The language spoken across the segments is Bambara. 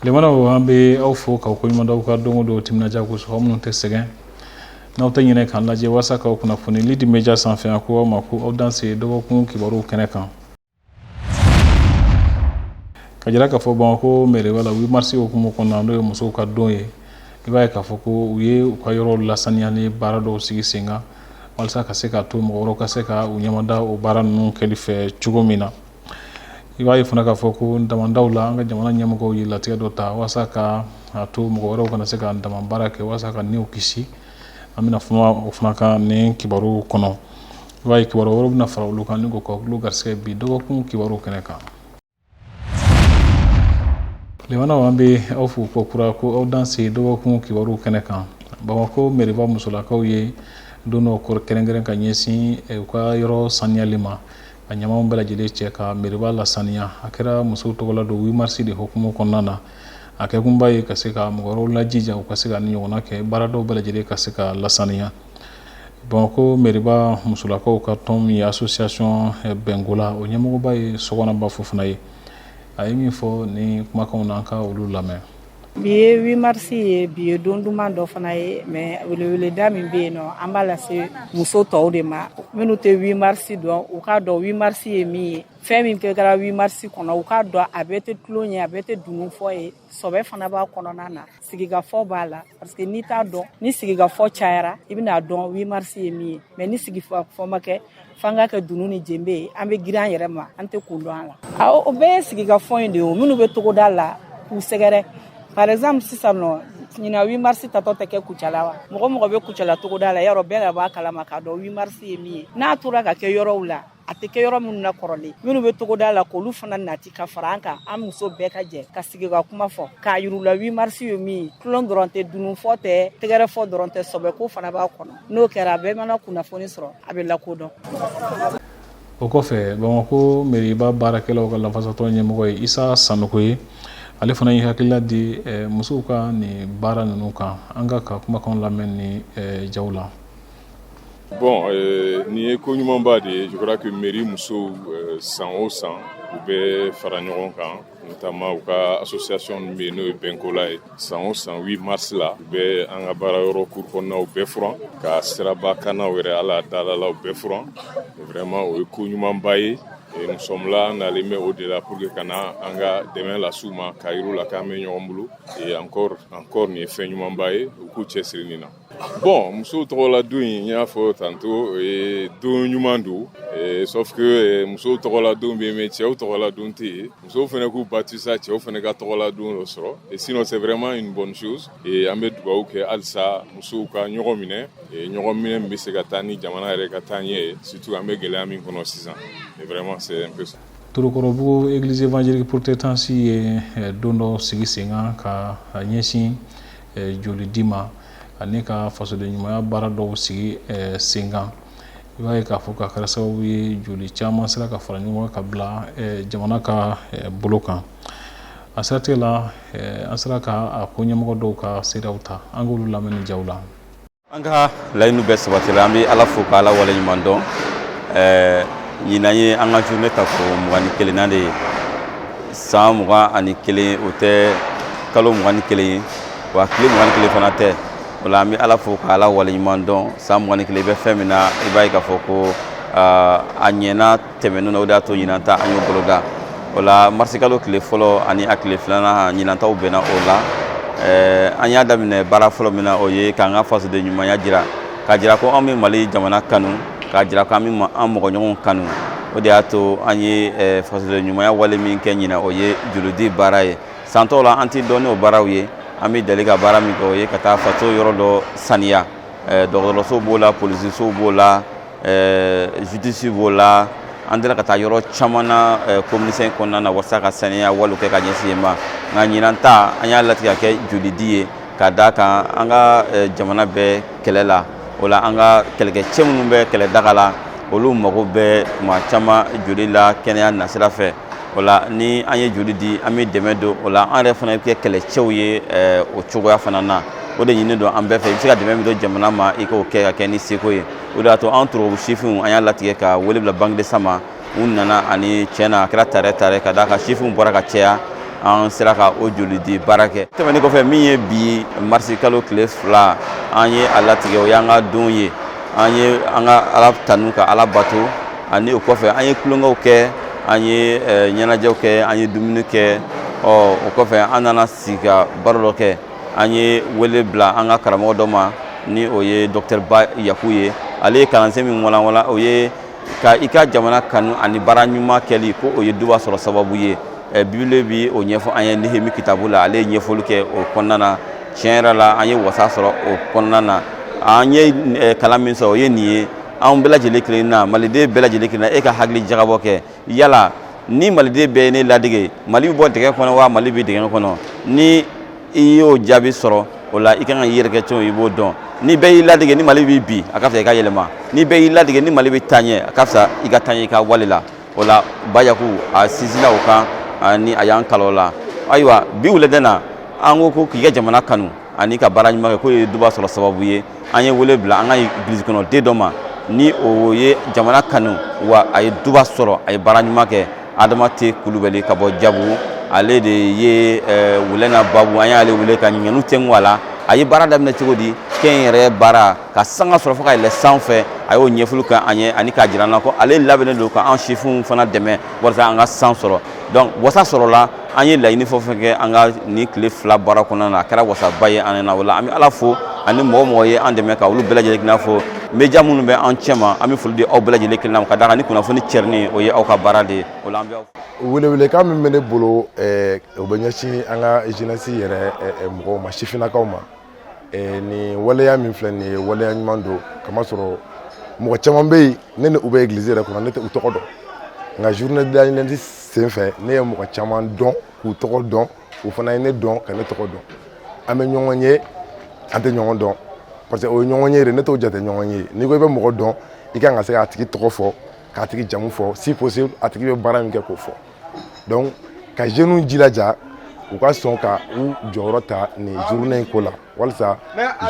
limanaw an bɛ aw fo k'aw ko ɲuman dɔn aw ka don o don timinandiya kosɔn aw minnu tɛ sɛgɛn n'aw tɛ ɲinɛ k'an lajɛ walasa k'aw kunnafoni lidi media sanfɛ an ko aw ma ko aw danse dɔgɔkun kibaruw kɛnɛ kan ka jira k'a fɔ bamakɔ mɛriba la wimarisi hukumu kɔnɔna n'o ye musow ka don ye i b'a ye k'a fɔ ko u ye u ka yɔrɔ lasaniyali baara dɔw sigi sen kan walasa ka se ka to mɔgɔ wɛrɛw ka se ka u ɲɛmada o baara ninnu kɛli fɛ cogo min na i b'a ye fana k'a fɔ ko damandaw la an ka jamana ɲɛmɔgɔ ye latigɛ dɔ ta walasa ka to mɔgɔ wɛrɛw kana se ka daman baara kɛ walasa ka niw kisi an bɛna kuma o fana kan nin kibaruw kɔnɔ i b'a ye kibaru wɛrɛ bɛna fara olu kan ni ko ka olu garisɛgɛ bi dɔgɔkun kibaruw kɛnɛ kan lemana an bɛ aw fo kokura ko aw danse dɔgɔkun kibaruw kɛnɛ kan bamakɔ mɛriba musolakaw ye don dɔ kɔrɔ kɛrɛnkɛrɛn ka ɲɛsin u ka yɔrɔ saniyali ma ka ɲamanw bɛɛ lajɛlen cɛ ka mɛriba lasaniya a kɛra musow tɔgɔla don wimarisi de hukumu kɔnɔna na a kɛ kunba ye ka se ka mɔgɔ wɛrɛw lajija u ka se ka nin ɲɔgɔnna kɛ baaradaw bɛɛ lajɛlen ka se ka lasaniya bamakɔ mɛriba musolakaw ka tɔn min ye asosiyasɔn bɛnkola o ɲɛmɔgɔba ye sogonaba fofana ye a ye min fɔ ni kumakan na an ka olu lamɛn bi ye wimarisi ye bi ye don duman dɔ fana ye mɛ weleweleda min bɛ yen nɔn an b'a lase muso tɔw de ma minnu tɛ wimarisi dɔn u k'a dɔn wimarisi ye min ye fɛn min kɛ kɛra 8 mars kɔnɔ u k'a dɔn a bɛɛ tɛ tulon ye a bɛɛ tɛ dunun fɔ ye sɔbɛ fana b'a kɔnɔna na sigikafɔ b'a la parce que n'i t'a dɔn ni sigikafɔ cayara i bɛna dɔn 8 mars ye min ye mais ni sigikafɔ ma kɛ f'an ka kɛ dunun ni jenbe ye an bɛ girin an yɛrɛ ma an tɛ kun dɔn a la awɔ o bɛɛ ye sigikafɔ in de ye o minnu bɛ togoda la k'u sɛgɛrɛ par exemple sisan nɔ ɲina 8 mars tatɔ tɛ kɛ kucala wa mɔgɔ mɔgɔ bɛ kucala togoda la yɔrɔ bɛɛ ka b'a kalama k'a dɔn 8 mars ye min ye n'a tora ka kɛ yɔrɔw la a tɛ kɛ yɔrɔ minnu na kɔrɔlen minnu bɛ togoda la k'olu fana nati ka fara an kan an muso bɛɛ ka jɛ ka sigi ka kuma fɔ k'a yir'u la wimarisi ye min ye tulon dɔrɔn tɛ dununfɔ tɛ tɛgɛrɛfɔ dɔrɔn tɛ sɔbɛko fana b'a kɔnɔ n'o kɛra a bɛɛ mana kunnafoni sɔrɔ a bɛ lakodɔn o kɔfɛ bamakɔ mɛriba baarakɛlaw ka lafasatɔn ɲɛmɔgɔ ye isa sanɔgɔ ye ale fana ye hakilila di eh, musow ka nin baara ninnu kan an k'a ka kumakan lamɛn ni eh, jaw la Bon euh, nin ye ko ɲumanba de ye je crois que mairie musow euh, san o san u bɛ fara ɲɔgɔn kan notamment u ka association min bɛ yen n'o ye bɛnkola ye san o san 8 mars la u bɛ an ka baara yɔrɔ cour kɔnɔnaw bɛɛ furan ka siraba kannaw yɛrɛ hali a dalalaw bɛɛ furan vraiment o ye ko ɲumanba ye Et nous sommes là, an nalen bɛ o de la pour que ka na an ka dɛmɛ las'u ma k'a yir'u la k'an bɛ ɲɔgɔn bolo et encore encore nin ye fɛn ɲumanba ye u k'u cɛsiri nin na Bon muso tɔgɔla don in n y'a fɔ tantôt o ye don ɲuman don sauf que muso tɔgɔla don bɛ yen cɛw tɔgɔla don tɛ yen musow fana k'u bati sa cɛw fana ka tɔgɔla don dɔ sɔrɔ sinon c'est vraiment une bonne chose an bɛ dugawu kɛ halisa musow ka ɲɔgɔn minɛ ɲɔgɔn minɛ min bɛ se ka taa ni jamana yɛrɛ ka taa ɲɛ ye surtout an bɛ gɛlɛya min kɔnɔ sisan vraiment c'est un peu ça Tɔrɔkɔrɔbugu église évangélique protestante ye don dɔ sigi sen kan ka ɲɛsin joli di ma ani ka fasoden ɲumanya baara dɔw sigi senkan i b'a ye k'a fɔ k'a kɛra sababu ye joli caman sera ka fara ɲɔgɔn ka bila jamana ka bolo kan a siratigɛ la an sera ka a ko ɲɛmɔgɔ dɔw ka seereyaw ta an k'olu lamɛn nin jaw la an ka layidu bɛɛ sabatila an bɛ ala fo ka ala wale ɲuman dɔn ɛɛ ɲinan ye an ka journée ta ko mugan ni kelennan de ye san mugan ani kelen o tɛ kalo mugan ni kelen ye wa tile mugan ni kelen fana tɛ o la an bɛ ala fo ka ala wale ɲuman dɔn san mugan ni kelen i bɛ fɛn min na i b'a ye k'a fɔ ko a ɲɛna tɛmɛnen na o de y'a to ɲinan ta an y'o boloda o la marisikalo tile fɔlɔ ani a tile filanan ɲinan taw bɛnna o la ɛɛ an y'a daminɛ baara fɔlɔ min na o ye k'an ka fasoden ɲumanya jira k'a jira ko an bɛ mali jamana kanu k'a jira ko an bɛ an mɔgɔɲɔgɔnw kanu o de y'a to an ye fasoden ɲumanya wale min kɛ ɲinan o ye jolidi baara ye san tɔw la an tɛ dɔn n'o baaraw ye an bɛ deli ka baara min kɛ o ye ka taa faso yɔrɔ dɔ saniya dɔgɔtɔrɔso b'o la polisisow b'o la justice b'o la an delila ka taa yɔrɔ caman na commune cinq kɔnɔna na walasa ka saniya walew kɛ ka ɲɛsin yen ma nka ɲinan ta an y'a latigɛ k'a kɛ jolidi ye ka d'a kan an ka jamana bɛ kɛlɛ la o la an ka kɛlɛkɛcɛ minnu bɛ kɛlɛ daga la olu mago bɛ tuma caman joli la kɛnɛya nasira fɛ o la ni an ye joli di an bɛ dɛmɛ don o la an yɛrɛ fana bɛ kɛ kɛlɛcɛw ye o cogoya fana na o de ɲininen don an bɛɛ fɛ i bɛ se ka dɛmɛ min don jamana ma i k'o kɛ k'a kɛ n'i seko ye o de y'a to an Tɔrɔkɔrɔbugu sifinw an y'a latigɛ ka wele bila banque de sang ma u nana ani cɛ na a kɛra tarɛ tarɛ ka d'a kan sifinw bɔra ka caya an sera ka o joli di baara kɛ tɛmɛnen kɔfɛ min ye bi marisi kalo tile fila an ye a latigɛ o y'an ka don ye an ye an ka ala tanu ka ala bato ani o kɔfɛ an ye tulonkɛw kɛ an ye ɲɛnajɛw kɛ an ye dumuni kɛ ɔ o kɔfɛ an nana sigi ka baro dɔ kɛ an ye wele bila an ka karamɔgɔ dɔ ma ni o ye docteur Ba Yaku ye ale ye kalansen min walanwalan o ye ka i ka jamana kanu ani baara ɲuman kɛli ko o ye duba sɔrɔ sababu ye eh, Bible bɛ o ɲɛfɔ an ye nehemi kitabu la ale ye ɲɛfɔli kɛ o kɔnɔna na tiɲɛ yɛrɛ la an ye wasa sɔrɔ o kɔnɔna na an ye eh, kalan min sɔrɔ o ye nin ye an bɛɛ lajɛlen kelen na maliden bɛɛ lajɛlen kelen na e ka hakili jagabɔ kɛ yala ni maliden bɛɛ ye ne ladige mali bɛ bɔ dingɛ kɔnɔ wa mali bɛ dingɛ kɔnɔ ni i y'o jaabi sɔrɔ o la i kan ka i yɛrɛ kɛ cogo i b'o dɔn ni bɛɛ y'i ladige ni mali bɛ bin a ka fisa i ka yɛlɛma ni bɛɛ y'i ladige ni mali bɛ taa ɲɛ a ka fisa i ka taa ɲɛ i ka wale la o la bayaku a sinsinna o kan ani a y'an kalan o la ayiwa bi wulada in na an ko ko k'i ka jamana kanu ani ka baara ɲuman kɛ k'o ye duba sɔrɔ sababu ye an ye wele bila an ka église kɔnɔ den dɔ ma ni o ye jamana kanu wa a ye duba sɔrɔ a ye baara ɲuman kɛ adama te kulubali ka bɔ jabugu ale de ye eh, wulɛ na babu an y'ale wele ka ɲininkaliw tɛnku a la a ye baara daminɛ cogo di kɛnyɛrɛye baara ka sanga sɔrɔ fo ka yɛlɛ sanfɛ a y'o ɲɛfɔli kɛ an ye ani k'a jira an na ko ale labɛnnen don ka an sifinw fana dɛmɛ walasa an ka san sɔrɔ donc wasa sɔrɔla an ye laɲini fɛn o fɛn kɛ an ka nin tile fila baara kɔnɔna na a kɛra wasaba ye an na o la an bɛ ala fo ani mɔgɔ o mɔgɔ ye an dɛmɛ ka olu bɛɛ lajɛlen kelen na fo média minnu bɛ an cɛma an bɛ foli di aw bɛɛ lajɛlen kelen na ka d'a kan ni kunnafoni cɛrinni o ye aw ka baara de ye o la an bɛ welewelekan min bɛ ne bolo o bɛ ɲɛsin an ka jeunesse yɛrɛ mɔgɔw ma sifinnakaw ma eh, nin waleya min filɛ nin ye waleya ɲuman don kamasɔrɔ mɔgɔ caman bɛ yen ne ni u bɛ egilizi yɛrɛ kɔnɔ ne tɛ u tɔgɔ dɔn nka journée de la jeunesse sen fɛ ne ye mɔgɔ caman dɔn k'u tɔgɔ dɔn u fana ye ne dɔn ka ne tɔgɔ dɔn an bɛ ɲɔgɔn ye an tɛ ɲɔgɔn dɔn parce que o ye ɲɔgɔn ye de ne t'o jate ɲɔgɔn ye n'i ko i bɛ mɔgɔ dɔn i kan ka se k'a tigi tɔgɔ fɔ k'a tigi jamu fɔ si possible a tigi bɛ baara min kɛ k'o fɔ donc ka jeunes jilaja u ka sɔn ka u jɔyɔrɔ ta nin journée in ko la walisa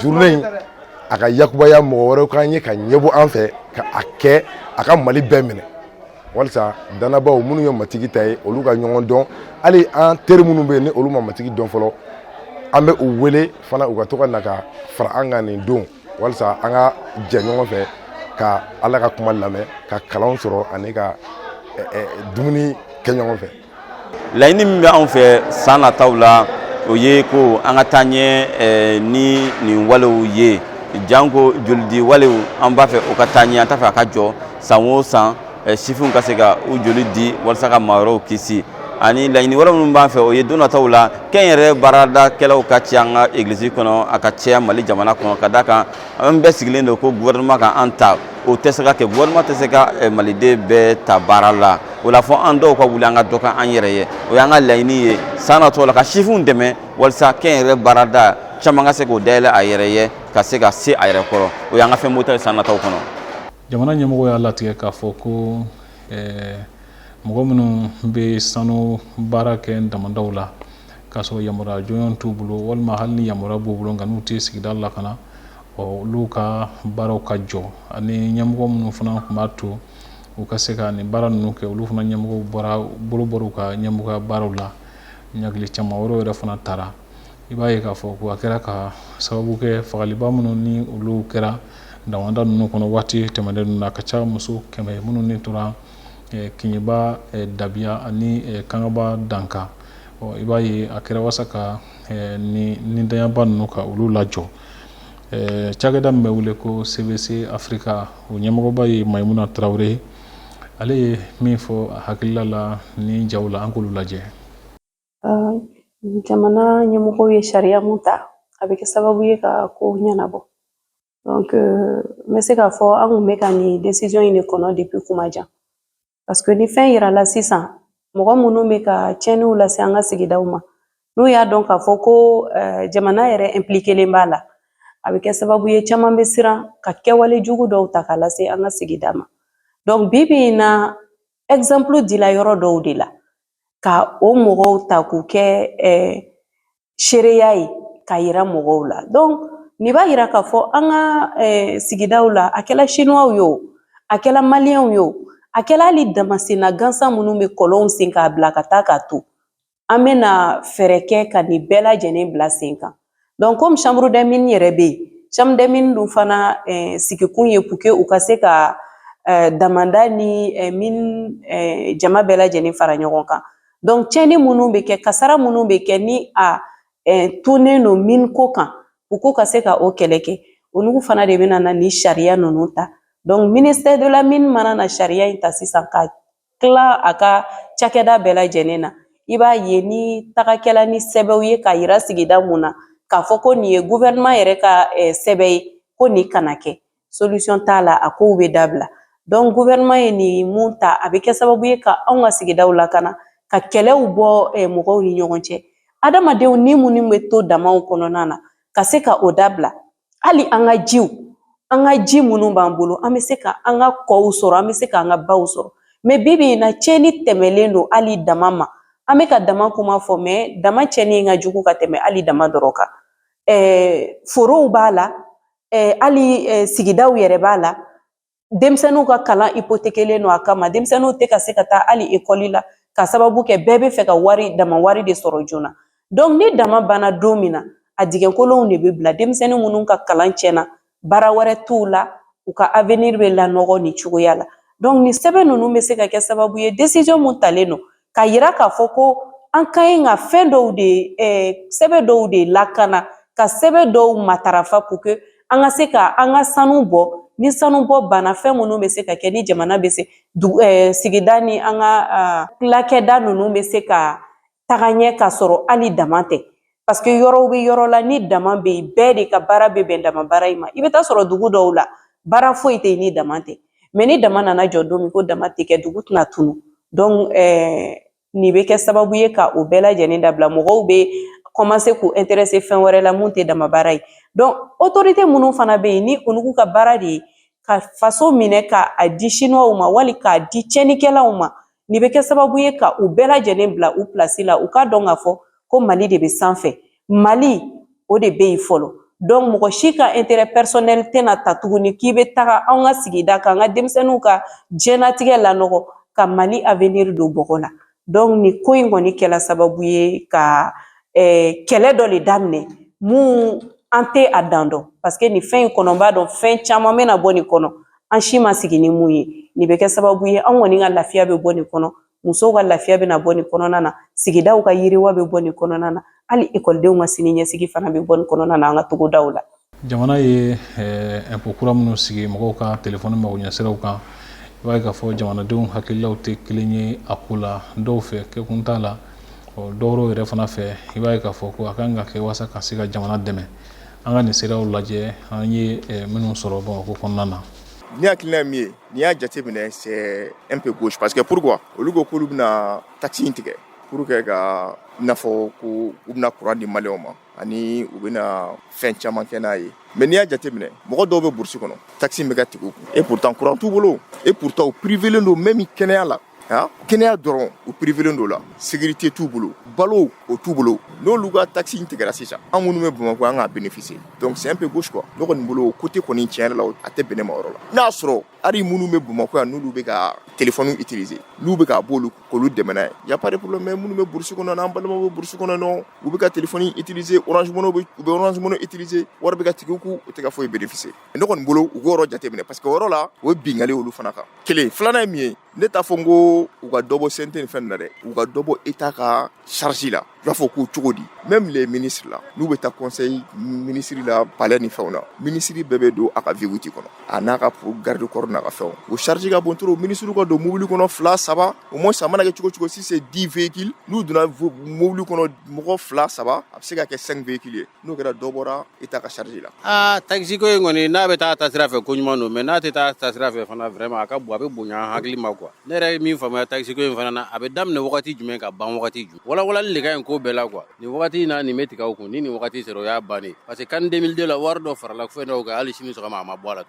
journée in a ka yakubaya mɔgɔ wɛrɛw k'an ye ka ɲɛbɔ an fɛ ka a kɛ a ka mali bɛɛ minɛ walisa danabaaw minnu ye matigi ta ye olu ka ɲɔgɔn dɔn hali an teri minnu bɛ yen ni olu ma matigi dɔn fɔlɔ an bɛ u wele fana u ka to ka na ka fara an kan nin don walisa an ka jɛ ɲɔgɔn fɛ ka ala ka kuma lamɛn ka kalan sɔrɔ ani ka dumuni kɛ ɲɔgɔn fɛ laɲini min bɛ anw fɛ san nataw la o ye ko an ka taa ɲɛ ni nin walew ye janko jolidi walew an b'a fɛ o ka taa ɲɛ an t'a fɛ a ka jɔ san o san sifinw ka se ka u joli di walasa ka maa wɛrɛw kisi ani laɲini wɛrɛ minnu b'an fɛ o ye don nataw la kɛnyɛrɛye baaradakɛlaw ka cɛya an ka egilisi kɔnɔ a ka cɛya mali jamana kɔnɔ ka d'a kan an bɛɛ sigilen don ko gouvernement ka an ta o tɛ se ka kɛ gouvernement tɛ se ka maliden bɛɛ ta baara la o la fɔ an dɔw ka wuli an ka dɔ kɛ an yɛrɛ ye o y'an ka laɲini ye san nataw la ka sifinw dɛmɛ walasa kɛnyɛrɛye baarada caman ka se k'o dayɛlɛ a yɛrɛ ye ka se ka se a yɛrɛ kɔrɔ o y'an ka fɛn bɔta ye san nataw kɔnɔ jamana ɲɛmɔgɔ y'a latigɛ k'a fɔ ko mɔgɔ minnu bɛ sanu baara kɛ damadaw la k'a sɔrɔ yamaruya jɔnjɔn t'u bolo walima hali ni yamaruya b'u bolo nka n'u tɛ sigida lakana olu ka baaraw ka jɔ ani ɲɛmɔgɔ minnu fana tun b'a to u ka se ka nin baara ninnu kɛ olu fana ɲɛmɔgɔw bolo bɔra u ka ɲɛmɔgɔya baaraw la ɲangili caman wɛrɛ yɛrɛ fana tara i b'a ye k'a fɔ ko a kɛra ka sababu kɛ fagaliba minnu ni olu kɛra damada ninnu kɔnɔ waati tɛmɛnen ninnu na ka ca muso kɛmɛ minnu ni tora eh, kiɲɛba eh, dabiya ani eh, kangaba dankan i b'a ye a kɛra walasa ka nin danyaba ninnu ka olu lajɔ cakɛda min bɛ wele ko cvc afirika o ɲɛmɔgɔba ye mayimuna tarawele ale ye min fɔ hakilila la ni jaw la an k'olu lajɛ jamana ɲɛmɔgɔ ye sariya mun ta a bɛ kɛ sababu ye ka ko ɲɛnabɔ n bɛ se k'a fɔ an kun bɛ ka nin desizɔn in de kɔnɔ depi kuma jan paseke ni fɛn yirala sisan mɔgɔ minnu bɛ ka tiɲɛniw lase an ka sigidaw ma n'u y'a dɔn k'a fɔ ko jamana yɛrɛ ɛnpilikelen b'a la a bɛ kɛ sababu ye caman bɛ siran ka kɛwale jugu dɔw ta k'a lase an ka sigida ma dɔnku bi bi in na ɛgizanpulu dila yɔrɔ dɔw de la ka o mɔgɔw ta k'u kɛ seereya ye ka yira mɔgɔw la dɔnku nin b'a yira k'a fɔ an ka sigidaw la a kɛla sinuwaw ye o a kɛla maliyɛnw ye o a kɛla hali damasenna gansan minnu bɛ kɔlɔnw sen k'a bila ka taa k'a to an bɛna fɛɛrɛ kɛ ka nin bɛɛ lajɛlen bila sen kan donc komi chambre des mines yɛrɛ bɛ yen chambre des mines dun fana eh, sigikun ye pour que u ka se ka eh, damanda ni eh, mine eh, jama bɛɛ lajɛlen fara ɲɔgɔn kan donc tiɲɛni minnu bɛ kɛ kasara minnu bɛ kɛ ni a eh, tonen don mine ko kan u ko ka se ka o kɛlɛ kɛ olu fana de bɛna na ni sariya ninnu ta donc ministère de la mine mana na sariya in ta sisan ka tila a ka cakɛda bɛɛ lajɛlen na i b'a ye ni taga kɛla ni sɛbɛw ye k'a yira sigida mun na k'a fɔ ko nin ye guvɛrɛnɛma yɛrɛ ka eh, sɛbɛ ye ko nin kana kɛ solisɔn t'a la a kow bɛ dabila dɔnku guvɛrɛnɛma ye nin mun ta a bɛ kɛ sababu ye ka anw ka sigidaw lakana ka kɛlɛw bɔ eh, mɔgɔw ni ɲɔgɔn cɛ adamadenw ni minnu bɛ to damaw kɔnɔna na ka se ka o dabila hali an ka jiw an ka ji minnu b'an bolo an bɛ se ka an ka kɔw sɔrɔ an bɛ se k'an ka baw sɔrɔ mɛ bi bi in na tiɲɛni tɛmɛlen don hali dama ma an bɛ ka dama kuma fɔ mɛ dama tiɲɛni ka jugu ka tɛmɛ hali dama dɔrɔn kan forow b'a la hali sigidaw yɛrɛ b'a la denmisɛnninw ka kalan ipotekelen don a kama denmisɛnninw tɛ ka se ka taa hali ekɔli la k'a sababu kɛ bɛɛ bɛ fɛ ka wari dama wari de sɔrɔ joona donc ni dama banna don min na a digɛnkolonw de bɛ bila denmisɛnnin minnu ka kalan tiɲɛna baara wɛrɛ t'u la u ka avenir bɛ lanɔgɔ nin cogoya la donc nin sɛbɛn ninnu bɛ se ka kɛ sababu ye decision mun talen don k'a yira k'a fɔ ko an ka ɲi ka fɛn dɔw de eh, sɛbɛ dɔw de lakana ka sɛbɛ dɔw matarafa pour que an ka se ka an ka sanu bɔ ni sanu bɔ banna fɛn minnu bɛ se ka kɛ ni jamana bɛ se eh, sigida ni an ka tilakɛda ninnu bɛ se ka taga ɲɛ k'a sɔrɔ hali dama tɛ Paseke yɔrɔw bɛ yɔrɔ la ni dama bɛ yen bɛɛ de ka baara bɛ bɛn dama baara in ma i bɛ t'a sɔrɔ dugu dɔw la baara foyi tɛ yen ni dama tɛ mɛ ni dama nana jɔ don min ko dama tɛ kɛ dugu tɛna tunu dɔnku ɛɛ nin bɛ kɛ sababu ye ka o bɛɛ lajɛlen dabila mɔgɔw bɛ kɔmanse k'u ɛnterese fɛn wɛrɛ la mun tɛ dama baara ye dɔnku otorite minnu fana bɛ yen ni olu ka baara de ye ka faso minɛ k'a di siniwaw ma wali k'a di tiɲɛnikɛlaw ma Nin bɛ kɛ sababu ye ka u bɛɛ lajɛlen bila u pilasi la u k'a dɔn k'a fɔ ko mali de bɛ sanfɛ mali o de bɛ yen fɔlɔ dɔnku mɔgɔ si ka ɛntere pɛsɔnɛli tɛna ta tuguni k'i bɛ taga an ka sigida kan an ka denmisɛnninw ka diɲɛnatigɛ lanɔgɔ ka mali aweniri don bɔgɔ la dɔnku nin ko in kɔni kɛla sababu ye ka eh, kɛlɛ dɔ de daminɛ mun an tɛ a dan dɔn parce que nin fɛn in kɔnɔ n b'a dɔn fɛn caman bɛna bɔ nin kɔnɔ an si ma sigi ni mun ye nin bɛ kɛ sababu ye an kɔni ka lafiya bɛ bɔ nin kɔnɔ musow ka lafiya bɛna bɔ nin kɔnɔna na sigidaw ka yiriwa bɛ bɔ nin kɔnɔna na hali ekɔlidenw ka sini ɲɛsigi fana bɛ bɔ nin kɔnɔna na an ka togodaw la jamana ye ɛnpo eh, kura minnu sigi mɔgɔw ka telefɔni magoɲɛsiraw kan i b'a ye k'a fɔ jamanadenw hakililaw tɛ kelen ye a ko la dɔw fɛ kɛkun t'a la dɔwɛrɛw yɛrɛ fana fɛ i b'a ye k'a fɔ ko a kan ka kɛ walasa ka se ka jamana dɛmɛ an ka nin siraw lajɛ an ye eh, minnu sɔrɔ bamakɔ kɔnɔna na ni hakilina min ye n'i y'a jate minɛ c'est un peu gauche parce que pourquoi olu ko k'olu bɛna taxe in tigɛ pour que ka i n'a fɔ ko u bɛna courant di maliyɛnw ma ani u bɛna fɛn caman kɛ n'a ye mais n'i y'a jate minɛ mɔgɔ dɔw bɛ burusi kɔnɔ taxe in bɛ ka tigɛ u kun et pourtant courant t'u bolo et pourtant u privelen don même kɛnɛya la kɛnɛya dɔrɔn u privelen don la sécurité t'u bolo balo o t'u bolo n'olu ka taxe in tigɛra sisan an minnu bɛ bamakɔ an k'a bénéficier donc c'est un peu gauche quoi ne kɔni bolo o côté kɔni tiɲɛ yɛrɛ la a tɛ bɛn ne ma yɔrɔ la n'a y'a sɔrɔ hali minnu bɛ bamakɔ yan n'olu bɛ ka téléphone utiliser n'u bɛ k'a bɔ olu k'olu dɛmɛ n'a ye y a pas de problème mais minnu bɛ burusi kɔnɔ an balimaw bɛ burusi kɔnɔ u bɛ ka téléphone utiliser u bɛ Orange Money utiliser wari bɛ ka tigɛ u kun u tɛ ka foyi bénéficier ne kɔni bolo u k'o yɔrɔ jateminɛ parce que o yɔrɔ la o ye binli olu fana kan kelen filanan ye min ye ne t'a fɔ n ko u ka dɔ bɔ CNT ni fɛn na dɛ u ka dɔ bɔ État ka charge la i b'a fɔ ko cogo di même les ministres la n'u bɛ taa kɔnsɛyi minisiri la palɛ ni fɛnw na minisiri bɛɛ bɛ don a ka V8 kɔnɔ a n'a ka garde corps n'a ka fɛnw o charge ka bon trop minisiriw ka don mobili kɔnɔ fila saba au moins a mana kɛ cogo cogo si c'est dix véhicules n'u donna mobili kɔnɔ mɔgɔ fila saba a bɛ se ka kɛ cinq véhicules ye N'o kɛra dɔ bɔra État ka charge la aa takisiko in kɔni n'a bɛ taa taasira fɛ ko ɲuman don mais n'a tɛ taa taasira fɛ fana vraiment a ka bon a bɛ bonya hakili ma quoi ne yɛrɛ ye min faamuya takisiko in fana na a bɛ daminɛ wagati jumɛn ka ban wagati jumɛn walawalali de ka ɲi ko bɛɛ la quoi nin wagati in na nin bɛ tigɛ u kun ni nin wagati sera o y'a bannen parce que CAN deux mille deux la wari dɔ farala fɛn dɔw kan hali sini sɔgɔma a ma bɔ a la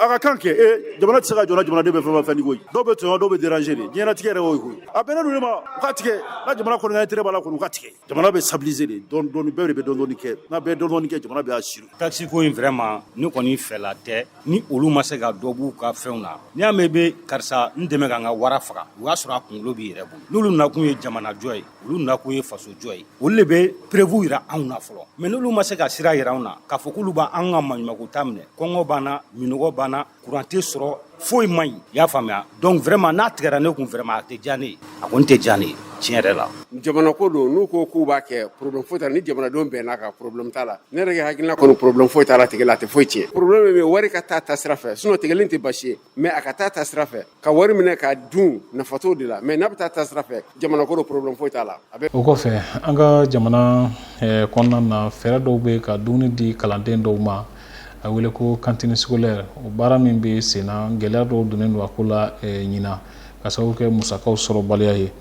a ka kan kɛ e jamana tɛ se ka jɔ jamana de bɛ fɛn fɛn koyi dɔw bɛ tɔɲɔ dɔw bɛ déranger de diɲɛnatigɛ yɛrɛ o koyi a bɛn ma ka tigɛ ni jamana kɔni intérêt b'a la ka tigɛ Jamana bɛ stabiliser de dɔndɔɔni bɛɛ de bɛ dɔndɔɔni kɛ n'a bɛ dɔndɔɔni kɛ jamana bɛ assurer takisiko in vraiment ne kɔni fɛla tɛ ni olu ma se ka dɔ b'u ka fɛnw na n'i y'a mɛn bɛ karisa n dɛmɛ ka n ka wara faga o y'a sɔrɔ a kunkolo b'i yɛrɛ bolo n'olu nakun ye jamanajɔ ye olu nakun ye fasojɔ ye olu de bɛ preuve jira anw na fɔlɔ mais n'olu ma se ka sira jira anw na k'a fɔ k'olu b'an ka maɲumanko ta minɛ kɔngɔ b'an na minnɔgɔ b'an na Kuran tɛ sɔrɔ foyi man ɲi i y'a faamuya donc vraiment n'a tigɛra ne kun vraiment a tɛ diya ne ye a kɔni tɛ diya ne ye tiɲɛ yɛrɛ la jamana ko don n'u ko k'u b'a kɛ problème foyi t'a la ni jamanadenw bɛnn'a kan problème t'a la ne yɛrɛ hakilina kɔni problème foyi t'a la tigɛ la a tɛ foyi cɛn problème bɛ wari ka taa taasira fɛ sinon tigɛlen tɛ baasi ye mais a ka taa taasira fɛ ka wari minɛ ka dun nafa t'o de la mais n'a bɛ taa taasira fɛ jamana ko don problème foyi t'a la a bɛ o kɔfɛ an ka jamana eh, kɔnɔna na fɛɛrɛ dɔw bɛ ka dumuni di kalanden dɔw ma a wele ko kantini scolaire o baara min bɛ senna gɛlɛya dɔw donnen don a ko la eh, ɲina ka sababu kɛ musakaw sɔrɔbaliya ye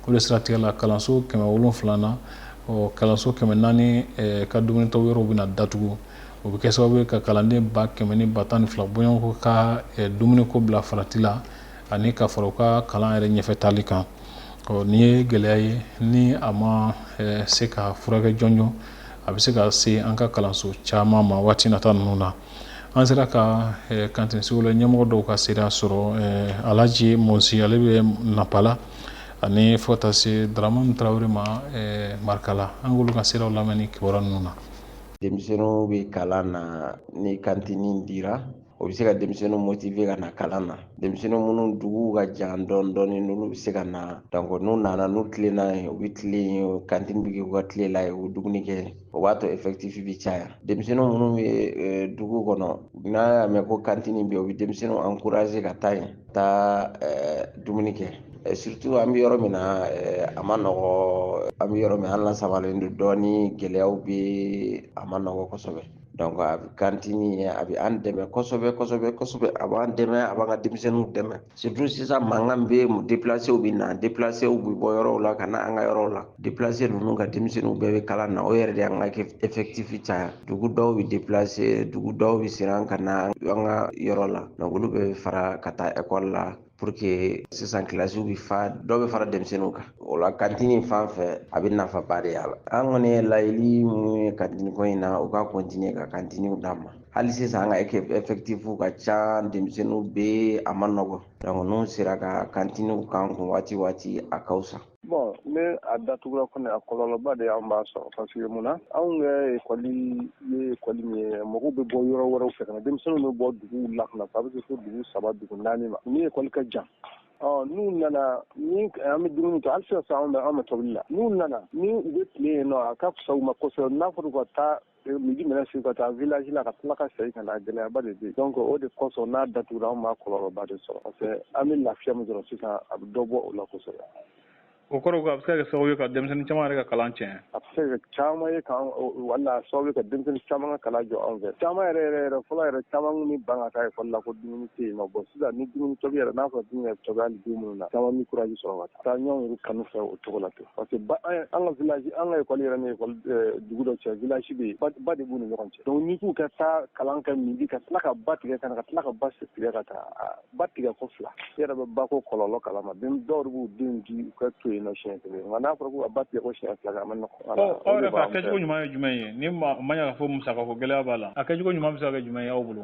o de siratigɛ la kalanso kɛmɛ wolonfila na kalanso kɛmɛ naani eh, ka dumunitɔ yɔrɔw bɛna datugu o bɛ kɛ sababu ye ka kalanden ba kɛmɛ ni ba tan ni fila bɔɲɔgɔnko ka dumuniko bila farati la ani ka fara u ka kalan yɛrɛ ɲɛfɛ taali kan ɔ nin ye gɛlɛya ye ni a ma se ka furakɛ jɔnjɔn a bɛ se ka se an ka kalanso caman ma waati nata ninnu na an sera ka kantini scolaire ɲɛmɔgɔ dɔw ka seereya sɔrɔ Alaji Mosi ale bɛ Nanpala ani fo ka taa se Daramani Tarawele ma Marikala an k'olu ka seereyaw lamɛn ni kibaruya ninnu na denmisɛnninw bɛ kalan na ni kantini dira o bɛ se ka denmisɛnninw motiver ka na kalan na denmisɛnnin minnu duguw ka jan dɔɔni dɔɔni n'olu bɛ se ka na donc n'u nana n'u tilenna yen u bɛ tilen yen kantini bɛ kɛ u ka tilela ye u bɛ dumuni kɛ o b'a to effectif bɛ caya denmisɛnnin minnu bɛ dugu kɔnɔ n'a y'a mɛn ko kantini bɛ yen o bɛ denmisɛnninw encourager ka taa yen taa dumuni kɛ surtout an bɛ yɔrɔ min na a ma nɔgɔ an bɛ yɔrɔ min an lasabalen don dɔɔni gɛlɛyaw bɛ a ma nɔgɔ kosɛbɛ donc a bɛ kantini ye a bɛ an dɛmɛ kosɛbɛ kosɛbɛ kosɛbɛ a b'an dɛmɛ a b'an ka denmisɛnninw dɛmɛ surtout sisan mankan bɛ déplacés bɛ na déplacés bɛ bɔ yɔrɔw la ka na an ka yɔrɔw la déplacés ninnu ka denmisɛnninw bɛɛ bɛ kalan na o yɛrɛ de y'an ka effectif caya dugu dɔw bɛ déplacer dugu dɔw bɛ siran ka na an ka yɔrɔ la donc olu bɛ fara ka taa ekɔli la pour que sisan kilasiw bɛ fa dɔw bɛ fara denmisɛnninw kan o la kantini fan fɛ a bɛ nafaba de y'a la an kɔni ye laɲini minnu ye kantini ko in na u ka continuer ka kantiniw d'an ma hali sisan an ka effectif ka ca denmisɛnninw bɛ a ma nɔgɔ donc n'u sera ka kantiniw k'an kun waati waati a ka fisa Bon ni a datugura kɔni a kɔlɔlɔba de anw b'a sɔrɔ parce que mun na anw ka ekɔli ye ekɔli min ye mɔgɔw bɛ bɔ yɔrɔ wɛrɛ fɛ ka na denmisɛnninw bɛ bɔ dugu la ka na a bɛ se fo dugu saba dugu naani ma ni ekɔli ka jan n'u nana an bɛ dumuni ta hali sisan anw bɛ anw bɛ tobili la n'u nana ni u bɛ tile yen nɔ a ka fisa u ma kosɛbɛ n'a fɔra ka taa midi minɛ su ka taa village la ka tila ka segin ka na gɛlɛyaba de bɛ yen donc o de kosɔn n'a datugura an b'a kɔlɔlɔba de sɔrɔ parce que an bɛ lafiya min sɔrɔ sisan a bɛ dɔ bɔ o la kosɛbɛ o kɔrɔ ko a bɛ se ka kɛ sababu ye ka denmisɛnnin caman yɛrɛ ka kalan tiɲɛ a bɛ se ka kɛ caman ye kan wala sababu ye ka denmisɛnnin caman ka kalan jɔ an fɛ caman yɛrɛ yɛrɛ yɛrɛ fɔlɔ yɛrɛ caman kun ni ban ka taa ekɔli la ko dumuni tɛ yen nɔ bon sisan ni dumuni tobi yɛrɛ n'a fɔra dumuni yɛrɛ tobi hali don minnu na caman bɛ courage sɔrɔ ka taa taa ɲɔgɔn yɛrɛ kanu fɛ o cogo la ten parce que eh, an ka village an ka école yɛrɛ ni école eh, dugu dɔ cɛ village bɛ yen ba de b'u ni ɲɔgɔn cɛ donc n'i k'u ka taa kalan kɛ midi ka tila ka ba tigɛ ka na ka tila ka ba tigɛ ka taa ah, ba tigɛ ko fila i yɛrɛ bɛ ba ko kɔlɔlɔ kalama den dɔw de b'u denw di u ka to yen nɔ siɲɛ kelen nka n'a fɔra k'u ka ba tigɛ ko siɲɛ fila kɛ a ma nɔgɔ. ɔ aw yɛrɛ fɛ a kɛcogo ɲuman ye jumɛn ye ni ma ɲa k'a fɔ musakako gɛlɛya b'a la a kɛcogo ɲuman bɛ se ka kɛ jumɛn ye aw bolo.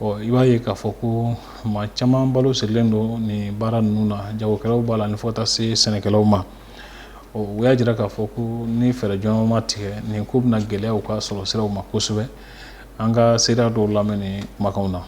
ɔ i b'a ye k'a fɔ ko maa caman balo sirilen don nin baara ninnu na jagokɛlaw b'a la ni fo ka taa se sɛnɛkɛlaw ma o y'a jira k'a fɔ ko ni fɛɛrɛ jɔnjɔn ma tigɛ nin ko bɛna gɛlɛya u ka sɔrɔ siraw ma kosɛbɛ an ka seereya dɔw lamɛn nin kumakanw na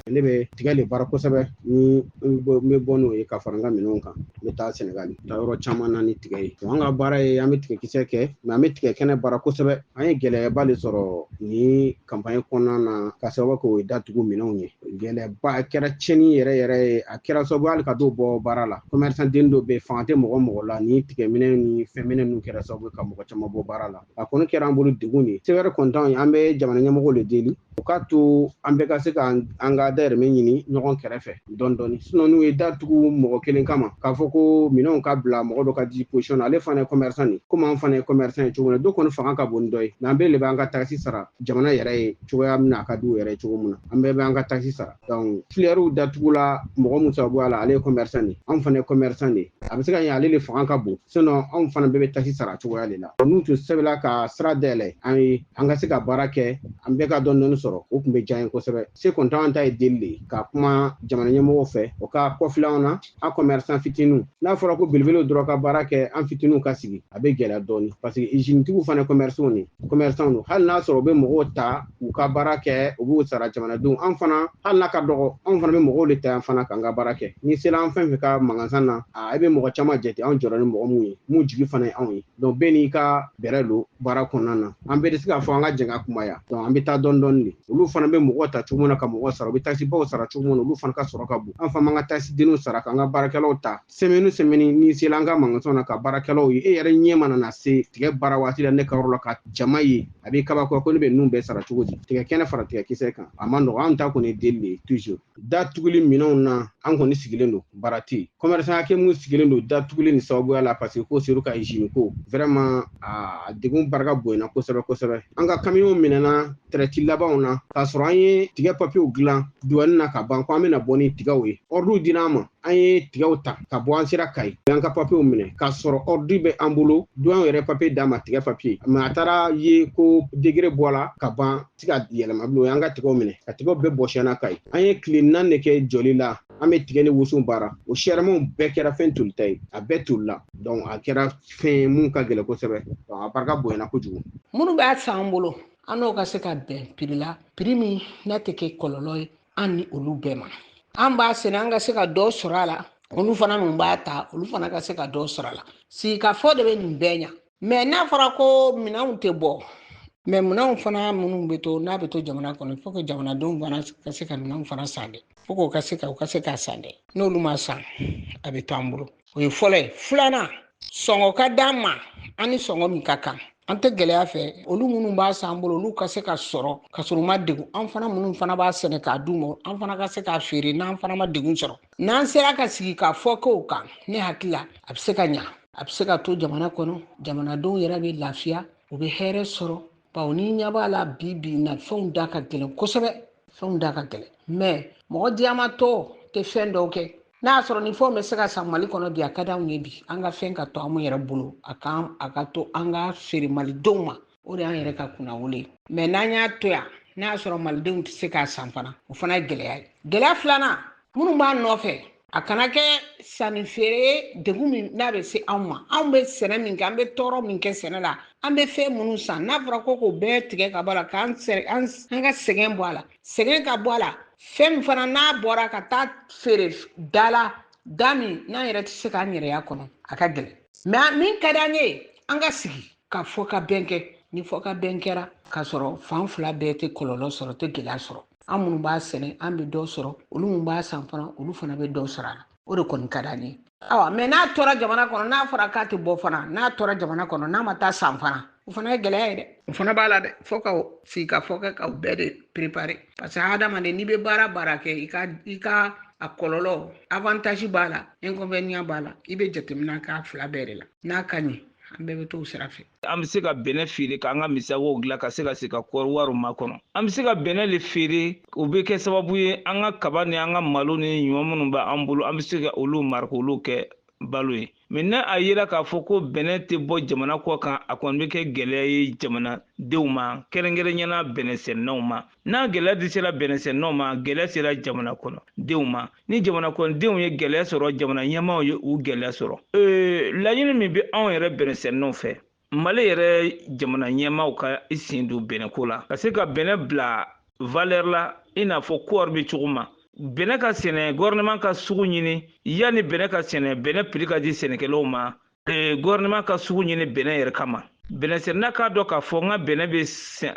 ne bɛ tigɛ le baara kosɛbɛ ni n bɛ bɔ n'o ye ka fara n ka minɛnw kan n bɛ taa sɛnɛgali taa yɔrɔ caman na ni tigɛ ye an ka baara ye an bɛ tigɛkisɛ kɛ mais an bɛ tigɛ kɛnɛ baara kosɛbɛ an ye gɛlɛyaba de sɔrɔ nin campagne kɔnɔna na ka sababu kɛ o ye datugu minɛnw ye gɛlɛyaba a kɛra tiɲɛni yɛrɛ yɛrɛ ye a kɛra sababu hali ka dɔw bɔ baara la commerçant den dɔ bɛ fanga tɛ mɔgɔ mɔgɔ la ni tigɛ minɛ ni fɛn minɛ ninnu kɛra sababu ka mɔgɔ caman bɔ baara la a kɔni kɛra an bolo degun de ye se wɛrɛ kɔni t'an ye an bɛ jamana ɲɛmɔgɔw le deli u k'a to an bɛɛ ka se ka an ka dahirimɛ ɲini ɲɔgɔn kɛrɛfɛ dɔɔni dɔɔni sinɔn n'u ye datugu mɔgɔ kelen kama k'a fɔ ko minɛnw ka bila mɔgɔ dɔ ka disposition na ale fana ye commerçant de komi an fana ye commerçant ye cogo min na dɔ kɔni fanga ka bon ni dɔ ye mɛ an bɛɛ le bɛ an ka taxe sara jamana yɛrɛ ye cogoya min na a ka di u yɛrɛ ye cogo min na an bɛɛ bɛ an ka taxe sara donc filɛriw datugula mɔgɔ min sababuya la ale ye commerçant de an fana ye commerçant de a bɛ se ka kɛ ale le fanga ka bon sinɔn anw fana bɛɛ bɛ taxe sara cogoya de la n'u tun sɛbɛla ka sira dayɛlɛ an ye an ka se ka baara kɛ an bɛɛ ka dɔɔni dɔɔni sɔrɔ o tun bɛ diya an ye kosɛbɛ se kɔntan an ta ye deli de ka kuma jamana ɲɛmɔgɔw fɛ o ka kɔfilɛ an na an kɔmɛrisan fitiniw n'a fɔra ko belebelew dɔrɔn ka baara kɛ an fitiniw ka sigi a bɛ gɛlɛya dɔɔni parce que izinitigiw fana kɔmɛrisanw de commerçant don hali n'a sɔrɔ u bɛ mɔgɔw ta u ka baara kɛ u b'u sara jamanadenw an fana hali n'a ka dɔgɔ anw fana bɛ mɔgɔw de ta yan fana k'an ka baara kɛ n'i sera an fɛn fɛn ka magasin na i bɛ mɔgɔ caman jate anw jɔra ni mɔgɔ minnu ye mun jigi fana ye anw ye donc bɛɛ n'i ka bɛrɛ don baara kɔnɔna na an bɛɛ tɛ se k'a fɔ an ka jɛn ka kunbaya donc an bɛ taa dɔɔni dɔɔni de olu fana bɛ mɔgɔ ta cogo min na ka mɔgɔ sara u bɛ taxe baw sara cogo min na olu fana ka sɔrɔ ka bon an fana b'an ka taxe denninw sara k'an ka baarakɛlaw ta sɛmɛni sɛmɛni n'i sela an ka magasin na ka baarakɛlaw ye e yɛrɛ ɲɛ mana na se tigɛ baara waati la ne ka yɔrɔ la ka jama ye a b'i kabakoya ko ne bɛ ninnu bɛɛ sara cogo di tigɛ kɛnɛ fara tigɛ kisɛ kan a ma nɔgɔ an ta kɔni deli de toujours datuguli minɛnw na an kɔni sigilen don baara tɛ yen kɔmɛrisan hakɛ minnu sigilen don datuguli nin sababuya la parce que ko seyidu ka izini ko vraiment a degun barika bonyana kosɛbɛ kosɛbɛ an ka kamiyɔnw minɛna tɛrɛti labanw na k'a sɔrɔ an ye tigɛ papiyew dilan duwani na ka ban ko an bɛna bɔ ni tigɛw ye ordre dira an ma an ye tigɛw ta ka bɔ an sera kayi o y'an ka papiyew minɛ k'a sɔrɔ ordre bɛ an bolo duwani yɛrɛ papiye d'an ma tigɛ papiye mɛ a taara ye ko décret bɔla ka ban tɛ se ka yɛlɛma bilen o y'an ka tigɛw minɛ ka tigɛw bɛɛ bɔsi an na kayi an ye tile naani de kɛ jɔli la an bɛ tigɛ ni woso baara o sɛrɛmaw bɛɛ kɛra fɛn tolita ye a bɛɛ tolila donc a kɛra fɛn mun ka gɛlɛn kosɛbɛ donc a barika bonyana kojugu minnu b'a san an bolo an n'o ka se ka bɛn piri la piri min n'a tɛ kɛ kɔlɔlɔ ye an ni olu bɛɛ ma an b'a sɛnɛ an ka se ka dɔ sɔrɔ a la olu fana min b'a ta olu fana ka se ka dɔ sɔrɔ a la sigikafɔ de bɛ nin bɛɛ ɲa mɛ n'a fɔra ko minɛnw tɛ bɔ mɛ minɛnw fana minnu bɛ to n'a bɛ to jamana kɔnɔ faut que jamanadenw fana ka se ka minɛnw fana san dɛ fo k'o ka se ka u ka se k'a san dɛ n'olu m'a san a bɛ to an bolo o ye fɔlɔ ye filanan sɔngɔ ka d'an ma an ni sɔngɔ min ka kan an tɛ gɛlɛya fɛ olu minnu b'a san an bolo olu ka se k'a sɔrɔ ka sɔrɔ u ma degun an fana minnu fana b'a sɛnɛ k'a d'u ma an fana ka se k'a feere n'an fana ma degun sɔrɔ n'an sera ka sigi k'a fɔ k'o kan ne hakili la a bɛ se ka ɲa a bɛ se ka to jamana kɔnɔ jamanadenw yɛrɛ bɛ lafiya u bɛ hɛrɛ sɔrɔ bawo n'i ɲɛ b'a la bi bi na fɛnw da ka gɛlɛn kosɛbɛ fɛnw da ka gɛlɛn mɛ mɔgɔ diyamatɔ tɛ fɛn dɔw kɛ n'a sɔrɔ ni fɛnw bɛ se ka san mali kɔnɔ bi a ka di anw ye bi an ka fɛn ka to anw yɛrɛ bolo a kan a ka to an k'a feere malidenw ma o de y'an yɛrɛ ka kunnawolo ye mɛ n'an y'a to yan n'a sɔrɔ malidenw tɛ se k'a san fana o fana ye gɛlɛya ye gɛlɛya filanan minnu b'a nɔfɛ a kana kɛ sanni feere ye degun min n'a bɛ se anw ma anw bɛ sɛnɛ min kɛ an bɛ tɔɔrɔ min kɛ sɛnɛ la an bɛ fɛn minnu san n'a fɔra ko k'o bɛɛ tigɛ ka bɔ a la k'an ka sɛgɛn bɔ a la sɛgɛn ka bɔ a la fɛn min fana n'a bɔra ka taa feere da la da min n'an yɛrɛ tɛ se k'an yɛrɛ y'a kɔnɔ a ka gɛlɛn mais min ka d'an ye an ka sigi ka fɔkabɛn kɛ ni fɔkabɛn kɛra k'a sɔrɔ fan fila bɛɛ tɛ kɔlɔlɔ sɔrɔ tɛ gɛlɛya sɔrɔ an minnu b'a sɛnɛ an bɛ dɔ sɔrɔ olu minnu b'a san fana olu fana bɛ dɔ sɔrɔ a la o de kɔni ka d'an ye awa mais n'a tora jamana kɔnɔ n'a fɔra k'a tɛ bɔ fana n'a tora jamana kɔnɔ n'a ma taa san fana o fana ye gɛlɛya ye dɛ o fana b'a la dɛ fo ka sigikafɔ kɛ ka o bɛɛ de préparer parce que hadamaden n'i bɛ baara baara kɛ i ka i ka a kɔlɔlɔ avantage b'a la inconvénient b'a la i bɛ jateminɛ k'a fila bɛɛ de la n'a ka ɲi an bɛɛ bɛ t'o sira fɛ an bɛ se ka bɛnɛ feere k'an ka musakaw dilan ka se ka se ka kɔɔri wariw makɔnɔ an bɛ se ka bɛnɛ le feere o bɛ kɛ sababu ye an ka kaba ni an ka malo ni ɲɔ minnu bɛ an bolo an bɛ se ka olu mara k'olu kɛ balo ye mais n'a yera k'a fɔ ko bɛnɛ tɛ bɔ jamana kɔ kan a kɔni bɛ kɛ gɛlɛya ye jamanadenw ma kɛrɛnkɛrɛnya na bɛnɛsɛnɛnaw ma n'a gɛlɛya de sera bɛnɛsɛnɛnaw ma gɛlɛya sera jamana kɔnɔdenw ma ni jamana kɔnɔdenw ye gɛlɛya sɔrɔ jamana ɲɛmaaw ye u gɛlɛya sɔrɔ ee, laɲini min bɛ anw yɛrɛ bɛnɛsɛnɛnaw fɛ mali yɛrɛ jamana ɲɛmaaw ka i sen don bɛnɛko la ka se ka bɛnɛ bila valeur la i n'a fɔ kɔɔri bɛ cogo min bɛnɛ ka sɛnɛ gouvernement ka sugu ɲini yanni bɛnɛ ka sɛnɛ bɛnɛ prix ka di sɛnɛkɛlaw ma ee, gouvernement ka sugu ɲini bɛnɛ yɛrɛ kama bɛnɛ sɛnɛna k'a dɔn k'a fɔ n ka bɛnɛ bɛ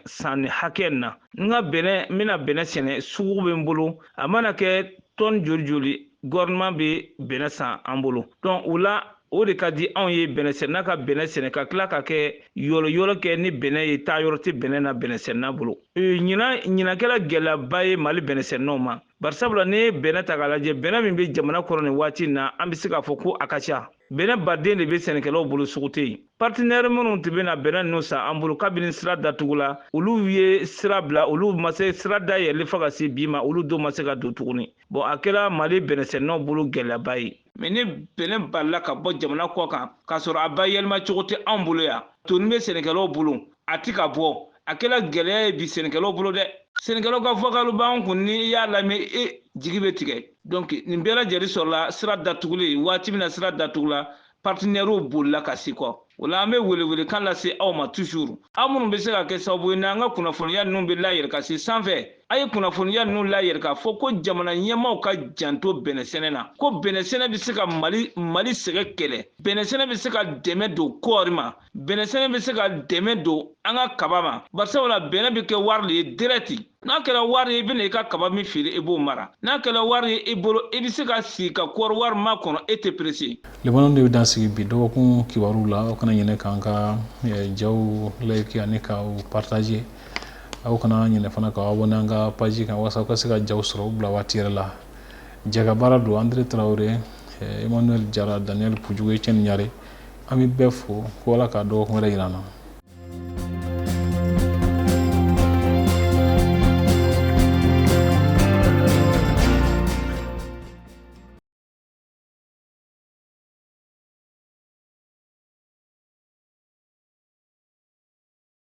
san nin hakɛ na n ka bɛnɛ n bɛna bɛnɛ sɛnɛ sugu bɛ n bolo a mana kɛ tɔni joli joli gouvernement bɛ bɛnɛ san an bolo donc o la o de ka di anw ye bɛnɛ sɛnɛna ka bɛnɛ sɛnɛ ka tila ka kɛ yɔlɔyɔlɔ kɛ ni bɛnɛ ye taayɔrɔ tɛ bɛnɛ na bɛnɛ sɛnɛna bolo ɲinan ɲinan kɛra gɛlɛyaba ye mali bɛnɛ sɛnɛnaw ma barisabula n'i ye bɛnɛ ta k'a lajɛ bɛnɛ min bɛ jamana kɔnɔ nin waati in na an bɛ se k'a fɔ ko a ka ca Bɛnɛ balilen de bɛ sɛnɛkɛlaw bolo sugu tɛ yen. Partenaires minnu tun bɛ na bɛnɛ ninnu san an bolo kabini sira datugula, olu ye sira bila, olu ma se sira dayɛlɛli fo ka se bi ma, olu dun ma se ka don tuguni. Bon a kɛra Mali bɛnɛsɛnɛnaw bolo gɛlɛyaba ye. Mais ni bɛnɛ balila ka bɔ jamana kɔ kan, k'a sɔrɔ a bayɛlɛma cogo tɛ anw bolo yan, tonnen bɛ sɛnɛkɛlaw bolo, a tɛ ka bɔ a kɛra gɛlɛya ye bi sɛnɛkɛlaw bolo dɛ sɛnɛkɛlaw ka vocal b'an kun ni i y'a lamɛn e jigi bɛ tigɛ donc nin bɛɛ lajɛlen sɔrɔla sira datuguli waati min na sira datugula partenaires bolila ka segin kɔ o la an bɛ welewelekan lase aw ma toujours aw minnu bɛ se ka kɛ sababu ye n'an ka kunnafoniya ninnu bɛ layɛlɛ ka se sanfɛ a ye kunnafoniya ninnu layɛlɛ k'a fɔ ko jamana ɲɛmaaw ka janto bɛnɛsɛnɛ na ko bɛnɛsɛnɛ bɛ se ka mali mali sɛgɛn kɛlɛ bɛnɛsɛnɛ bɛ se ka dɛmɛ don kɔɔri ma bɛnɛsɛnɛ bɛ se ka dɛmɛ don an ka kaba ma barisabula bɛnɛ bɛ kɛ wari de ye dirɛti n'a kɛra wari ye i bɛna i ka kaba min feere i b'o mara n'a kɛra wari ye i bolo i bɛ se ka sigi ka kɔɔri wari makɔnɔ e tɛ perese laban nin de bɛ dan sigi bi dɔgɔkun kibaruw la aw kana ɲinɛ k'an ka eh, jaw layiki ani ka u partage aw kana ɲinɛ fana ka aw abɔne an ka paji kan walasa aw ka se ka jaw sɔrɔ u bila waati yɛrɛ la jɛka baara don andre traore eh, emmanuel jara daniel pujugu etienne ɲare an bɛ bɛɛ fo ko ala ka dɔgɔkun wɛrɛ yira an na